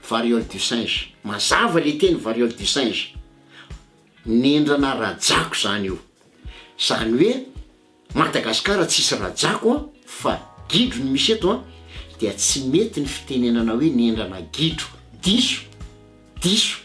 Variole du singe, mazava le teny variole du singe, nendrana rajako zany io, zany hoe Madagascar tsisy rajako an, fa gidro no misy eto an, dia tsy mety ny fitenenana hoe nendrana gidro, diso, diso.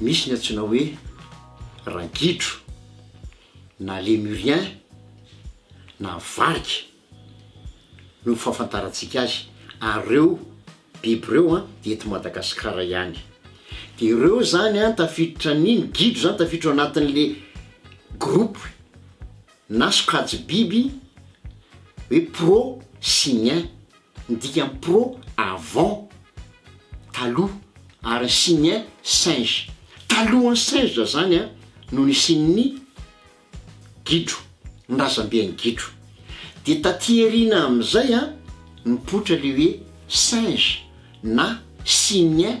Misy ny antsoina hoe ragidro na lemurien na varika no fahafantarantsika azy ary ireo biby ireo a dia eto Madagasikara ihany dia ireo izany a tafiditra ny ny gidro izany tafiditra ao anatin'le groupe na sokajy biby hoe prosimien Ny dikan'ny pro, avant, taloha, ary ny signe, singe. Talohan'ny singe zany no nisian'ny gidro, ny razambe an'ny gidro. Dia taty aoriana amin'izay nipoitra ilay hoe singe na signe.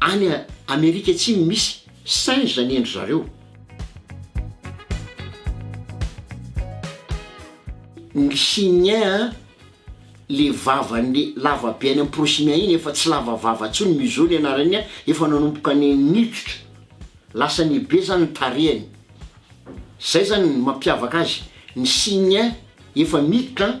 Any Amerika Atsimo misy singe zany endry zareo. Ny chiniens an, le vavany le lava be any am prosimien iny efa tsy lava vava tsony museau ny anarany an, efa nanomboka ny niditra, lasa nihibe zany ny tarehany, zay zany ny mampiavaka azy, ny chiniens efa miditra an,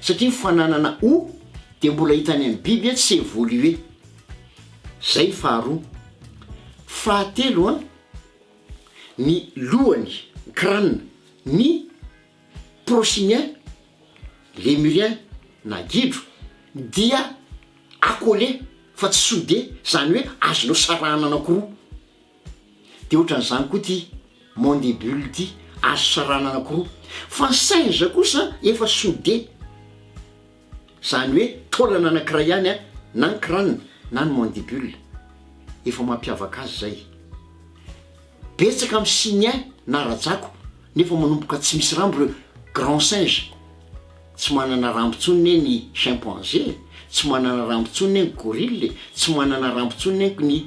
satria ny fananana o dia mbola hita any amin'ny biby tsy évolué. Izay ny faharoa. Fahatelo an, ny lohany, crâne, ny prochimiens, lémuriens na gidro, dia accolé fa tsy soudé, izany hoe azonao sarahana anankiroa. Dia ohatran'izany koa ity mandibule ity, azo sarahana anankiroa. Fa ny singe kosa efa soude, izany hoe taolana anankiray ihany an, na ny crâne na ny mandibule. Efa mampiavaka azy izay. Betsaka amin'ny simiens na rajako nefa manomboka tsy misy rambo ireo grands singes. Tsy manana rambo intsony ne ny chimpanzé e, tsy manana rambo intsony ne ny gorille e, tsy manana rambo intsony nenko ny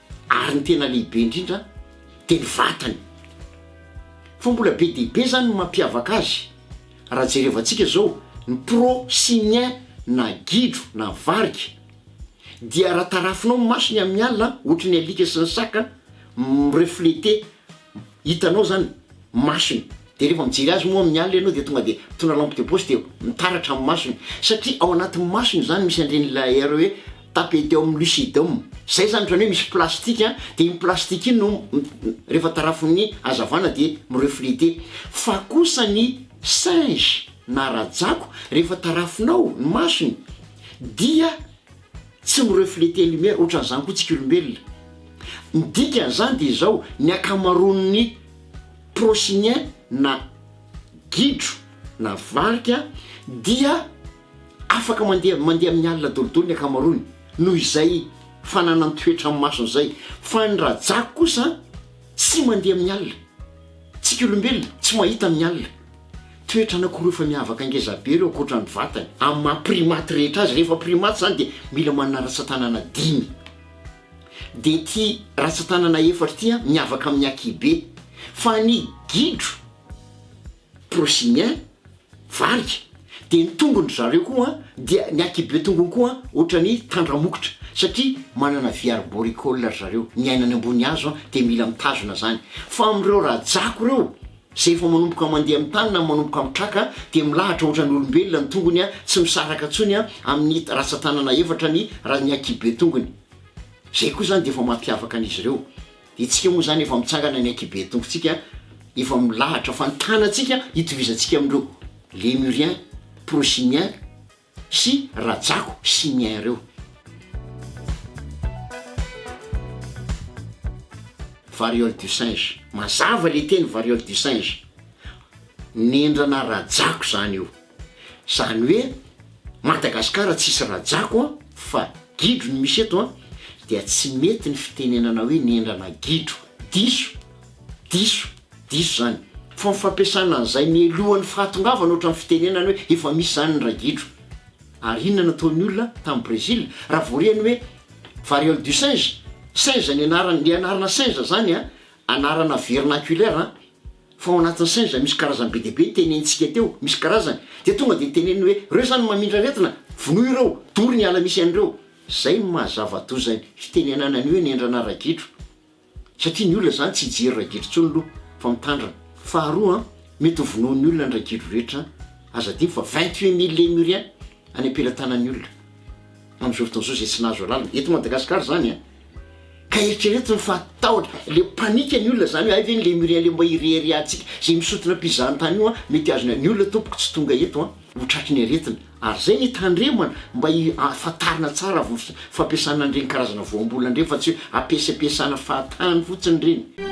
Ary ny tena lehibe indrindra dia ny vatany. Fa mbola be dia be izany ny mampiavaka azy. Raha jerevantsika izao ny pro simien na gidro na varika dia raha tarafinao ny masony amin'ny alina ohatry ny alika sy ny saka mi-refleter hitanao izany masony dia rehefa mijery azy moa amin'ny alina ianao dia tonga dia mitondra lampe de poche dia mitaratra amin'ny masony satria ao anatin'ny masony izany misy an'ireny layer hoe tapetum lucidum izay izany ohatran'ny hoe misy plastique dia iny plastique iny no rehefa tarafin'ny hazavana dia mi-refleter fa kosa ny singe na rajako rehefa tarafinao ny masony dia Tsy mi-refleter lumière ohatran'izany koa tsika olombelona. Ny dikan'izany dia izao, ny ankamaroan'ny prosynien na gidro na varika dia afaka mandeha mandeha amin'ny alina daholodoly ny ankamaroany noho izay fananan-toetra amin'ny masony izay, fa ny rajako kosa, Tsy mandeha amin'ny alina. Tsika olombelona, tsy mahita amin'ny alina. Toetra anankiroa efa miavaka ngeza be ireo ankoatra ny vatany. Amin'ny maha primates rehetra azy, rehefa primates izany dia mila manana ratsan-tanana dimy. Dia ity ratsan-tanana efatra ity miavaka amin'ny akibe. Fa ny gidro. Prosinien, varika, dia ny tongony ry zareo koa dia ny akibiotongony koa ohatran'ny tandramokotra satria manana vy arboricoles ry zareo, miaina any ambony hazo dia mila mitazona zany. Fa amin'ireo rajako ireo izay efa manomboka mandeha amin'ny tany na manomboka mitraka dia milahatra ohatran'ny olombelona ny tongony tsy misaraka tsony amin'ny ratsatanana efatra ny ny akibiotongony. Izay koa zany dia efa mampiavaka an'izy ireo. Itsika moa izany efa mitsangana ny ankibetonkontsika efa milahatra fa ny tanantsika itovizantsika amin'ireo Lémuriens, Procyniens sy rajako Cyniens ireo. Variole du singe, mazava ilay teny variole du singe, nendrana rajako izany io. Zany hoe Madagascar tsisy Rajako an fa gidro ny misy eto an dia tsy mety ny fitenenana hoe nendrana gidro. Diso. Diso. Diso zany. Fa ny fampiasana an'izay mialohan'ny fahatongavana ohatran'ny fitenenana hoe efa misy zany ny ragidro. Ary inona nataon'ny olona tany Brésil raha vao re ny hoe variole du singe? Singe ny anarany, le anarana singe zany an anarana vernaculaire an Fa ao anatin'ny saina izay misy karazany be dia be tenenintsika teo, misy karazany, dia tonga dia teneniny hoe, ireo izany no mamindra aretina, vonoy ireo, dory ny ala misy an'ireo. Izay no maha zava-doza ny fitenenana ny hoe nendrana ragidro. Satria ny olona izany tsy hijery ragidro intsony aloha, fa mitandrina. Faharoa, mety ho vonoin'ny olona ny ragidro rehetra, aza adino fa vingt-huit mille lemuriens any am-pelatanan'ny olona amin'izao fotoana izao izay tsy nahazo alalana eto Madagasikara izany an! Ka eritrereto ny fahatahotra, ilay panique ny olona izany hoe hay ve ny Lémurien ilay mba ireharehantsika izay misotona mpizahatany io an! mety azony an! ny olona tompoko tsy tonga eto an! ho tratry ny aretina ary izay no hitandremana mba hifantarina tsara avy ny fampiasana an'ireny karazana voambolana ireny fa tsy hoe ampiasampiasana fahatany fotsiny ireny.